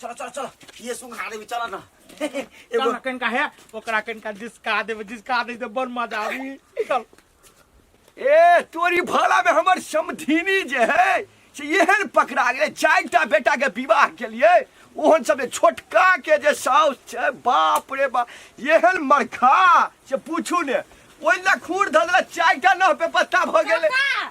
चलो चलो चलो ये सुन हारे भी चला ना एगो चल कनिका है ओकरा कनिका जिसका देबे जिसका दे बड़ मजा आवी चल ए तोरी भाला में हमर समधीनी जे है से एहन पकड़ा गेलै चारि टा बेटा के विवाह के लिए ओहन सब जे छोटका के जे साउस छै बाप रे बाप एहन मरखा से पूछू ने ओहि लए खूर धऽ देलक चारि टा नह पे पत्ता भऽ गेलै काका,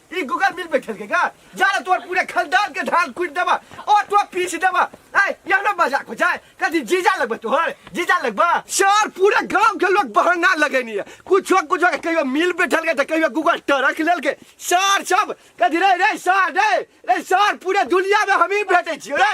ई गूगल मिल बैठल के का जाना तोर पूरे खानदान के धान कूट देबा और तो पीछ देबा ऐ यह ना मजाक हो जाए कभी जीजा लगबे तोहर जीजा लगबा सर पूरे गांव के लोग बहाना लगेनी है कुछ कुछ के कहियो मिल बैठल के त कहियो गूगल टरक लेल के सर सब कभी रे रे सर रे रे सर पूरे दुनिया में हम ही भेटे छी रे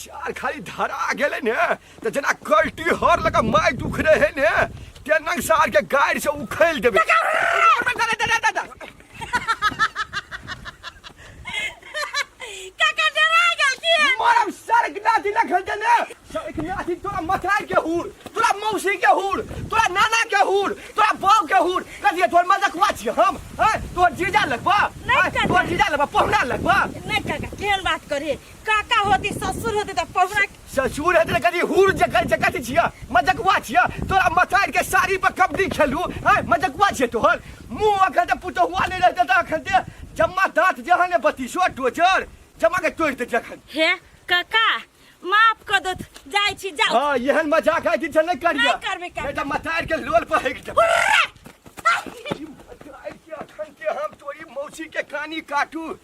सार खाली धरा गेले ने तो जना कल्टी हर लगा माय दुख रहे है ने तेनंग सार के गाड़ी से उखेल देबे काका डरा गेल की मरम सार के नाती ना खेलते ने सार के नाती तोरा मथार के हुर तोरा मौसी के हुर तोरा नाना के हुर तोरा बाप के हुर कहिए तोर मजाक वाच हम हैं तोर जीजा लगबा नहीं हैं? काका। तोर जीजा लगबा पहुना लगबा नहीं काका केहन बात करे काका होती ससुर होती त पहुना ससुर हेतै तऽ कनि हुर जकर जकत छिया मजकुआ छिया तोरा मतार के साड़ी पर कबड्डी खेलू हैं मजकुआ छियै तोहर मुंह अखन तऽ पुतहुआ नहि रहतै तऽ अखन ते जम्मा दाँत जहाँ ने बतीसो टोचर जमा के तोड़ि देतै अखन हे काका माफ क दो जाइ छी जाउ हाँ एहन मजाक आइ दिन से नहि करिया नहि करबै, करबै। नहि तऽ मतार के लोल पर हटि जाउ उर्रा! ई मतार के अखन के हम तोरी मौसी के कानी काटू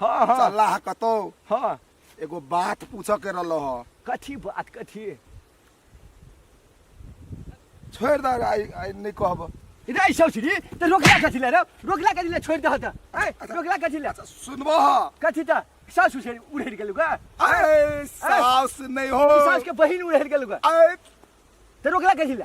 हाँ हाँ चलला है कतो हाँ एगो बात पूछे के रहलो हो कथी बात कथी छोड़ दे आई आई नहीं कहब रे सौसरी तो रोकला कथी ले रे रोकला कथी ले छोड़ दह त ए रोकला कथी ले अच्छा सुनबो हो कथी त सासु से उड़ेर गेलु का अरे सास नहीं हो सास के बहिन उड़ेर गेलु का अरे तो रोकला कथी ले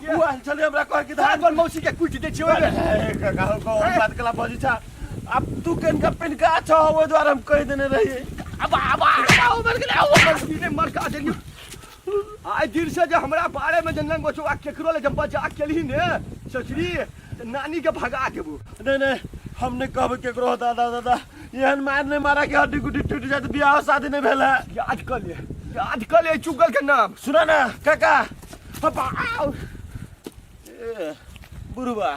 उ आयल छलै हमरा कह के धान पर मौसी के कुटि दै छियै ओहिमे ए, काका हो कौन बात कला बजी छा अब तू केन का पेन का छो ओइ द्वारा हम कह देने रही अब अब आओ मर गेलै आओ मर गेलै मर का देली आइ दिन से जे हमरा बारे में जनन बचो आ केकरो ले जब बजा केली ने ससुरी त नानी के भगा देबो नहीं नहीं हम नहीं कहब केकरो हो दादा दादा एहन मार नहीं मारा के हड्डी गुड्डी टूट जाए तो बियाह शादी नहीं भेल है याद कर ले याद कर ले चुगल के नाम सुना ना काका हपा आउ ए, बुढ़वा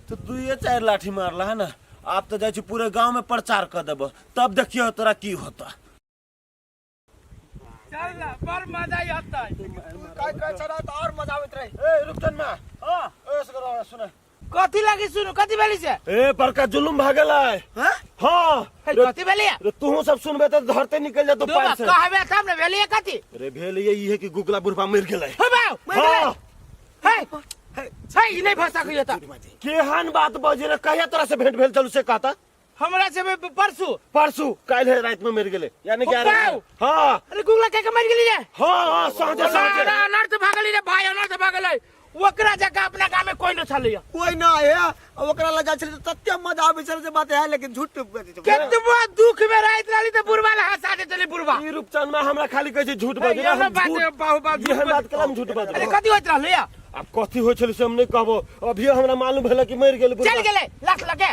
तो दुइये चार लाठी मारला है ना आप तो जाइ छी पूरे गांव में प्रचार कर देब तब देखियो तोरा की होता चल ना बड़ मजा आता है काय काय चला तो और मजा आवत रही ए रुपचन मा हां ए सुन सुन कथी लगी सुनू कथी भेली से ए बड़का जुलुम भागल है हाँ? हाँ है रे, कथी भेली है? रे तू सब सुनबे तो धरते निकल जा तो दो पैर बात से कहबे तब ने भेली है कथी रे भेल ये ये कि गुगला बुढ़वा मर गेल है हो बाऊ मर गेलै। हाँ है है ई नहीं फंसा कहियो त केहन बात बजे रे कहिया तोरा से भेंट भेल चलू से कहता हमरा से बे- परसू परसू काल्हि है रात में मर गेले यानी कि आज- बाऊ! हाँ अरे गुगला के मर गेली रे हाँ हाँ साँझे अरे साँझे अनर्थ भागली रे भाई अनर्थ भागले ओकरा जगह अपना गाँव में कोई न छलै कोई ना है आ ओकरा लग जाय छले त तते मजा आबै छले से बात है लेकिन झूठ बजै छै केतबो दुख में रहत रहली त बुढ़वा ले हंसा दे चली बुढ़वा ई रूपचंद में हमरा खाली कहै छै झूठ बाजू ये हम बात झूठ है, बाहु बात ये हम बात कलम झूठ बाजू अरे कथी होइत रहलै आब कथी होइ छलै से हम नहि कहबो अभियो हमरा मालूम भेल कि मरि गेल चल गेलै लाख लगे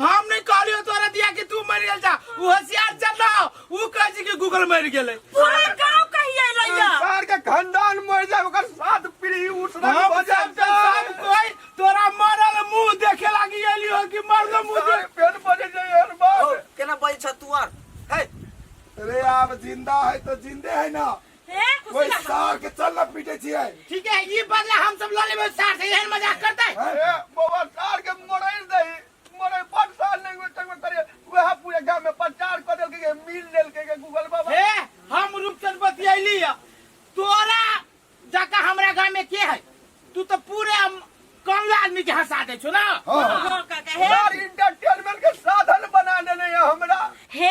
हम नहीं कहलियो तोरा दिया कि तू मर गेल जा उ होशियार चल ना उ कह छी कि गूगल मर गेले पूरा गांव कहिए रहिया सार के खानदान मर जाए ओकर साथ पीढ़ी उठना हम हो जाए सब सब कोई तोरा मरल मुंह देखे लागी एलियो कि मरल मुंह सार देख पेन बजे जाए हर बात केना बजै छ तू आर हे अरे आप जिंदा है तो जिंदे है ना हे कुछ ओहि ना सार के चल ना पीटे छियै ठीक है ई बदला हम सब लऽ लेबै सार से एहन मजाक करतै ए बाबा सार के मरैर दही मरै बड साल नहीं हुए तक में करे वह पूरे गांव में प्रचार कर देल के मिल लेल के गूगल बाबा हे हम रूपचंद बतियैली है तोरा जका हमरा गांव में के है तू तो पूरे हम कमला आदमी के हंसा दे छो ना हाँ। हाँ, काका हे सार इंटरटेनमेंट के साधन बना देने है हमरा हे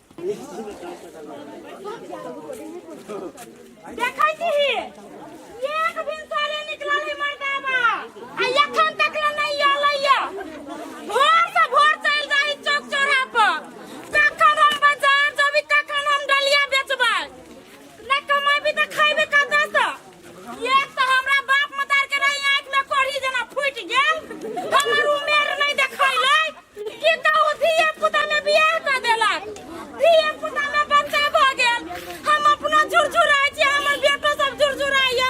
देखै छी एक भिनसर ले निकलल है मर्दावा आ एखन तक ले नहीं अलै भोर से भोर चल जाई चौक चौराहा पर कखन हम बाजार जबी कखन हम डलिया बेचबै ना कमाबी त खैबे कतऽ सँ एक तऽ हमरा बाप मतार के रही आँखि में कोढ़ी जेना फूटि गेल हमर उमेर नहि देखैलै कि कहू धिये पुता में बियाह कऽ देलक धिये पुता में बच्चा भऽ गेल हम अपनो झुरझुराइ छी हमर बेटो सब झुरझुराइए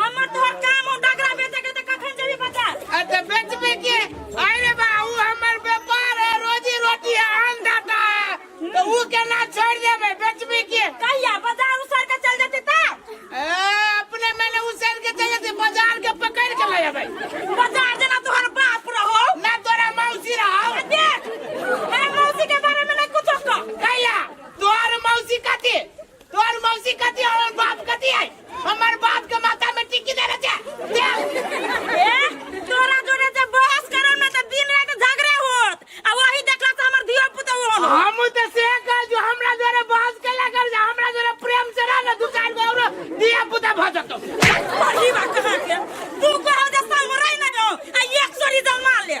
हमर तोहर काम हो डगरा बेचे के त कखन जेबी बाजार आ त बेचबे के अरे बा ऊ हमर व्यापार है रोजी रोटी है अन्नदाता है तो ऊ केना छोड़ देबे बेचबे के कहिया बाजार उसर के चल जती त ए, अपने मैंने उसेर के चाहिए थे बाजार के पकड़ के ले अबे बाजार जना तोहर बाप रहो ना तोरा मौसी रहा आ देख ए मौसी के बारे में नहीं कुछ कह कहिया तोहर मौसी कथी तोर मौसी कथी हमर बाप कथी है हमर बाप के माथा में टिक्की देले छे दे ए तोरा जोरे जे बहस करन में त दिन रात झगड़े होत आ वही देखला त हमर धियो पुतो होन हम त से कह जो हमरा जोरे बात केला कर जा हमरा जोरे प्रेम से रह ना दू चार गो और दिया पुता भ जतो पढ़ी बा कहां के तू कहो जे समराई ना जाओ आ एक सोरी जमा ले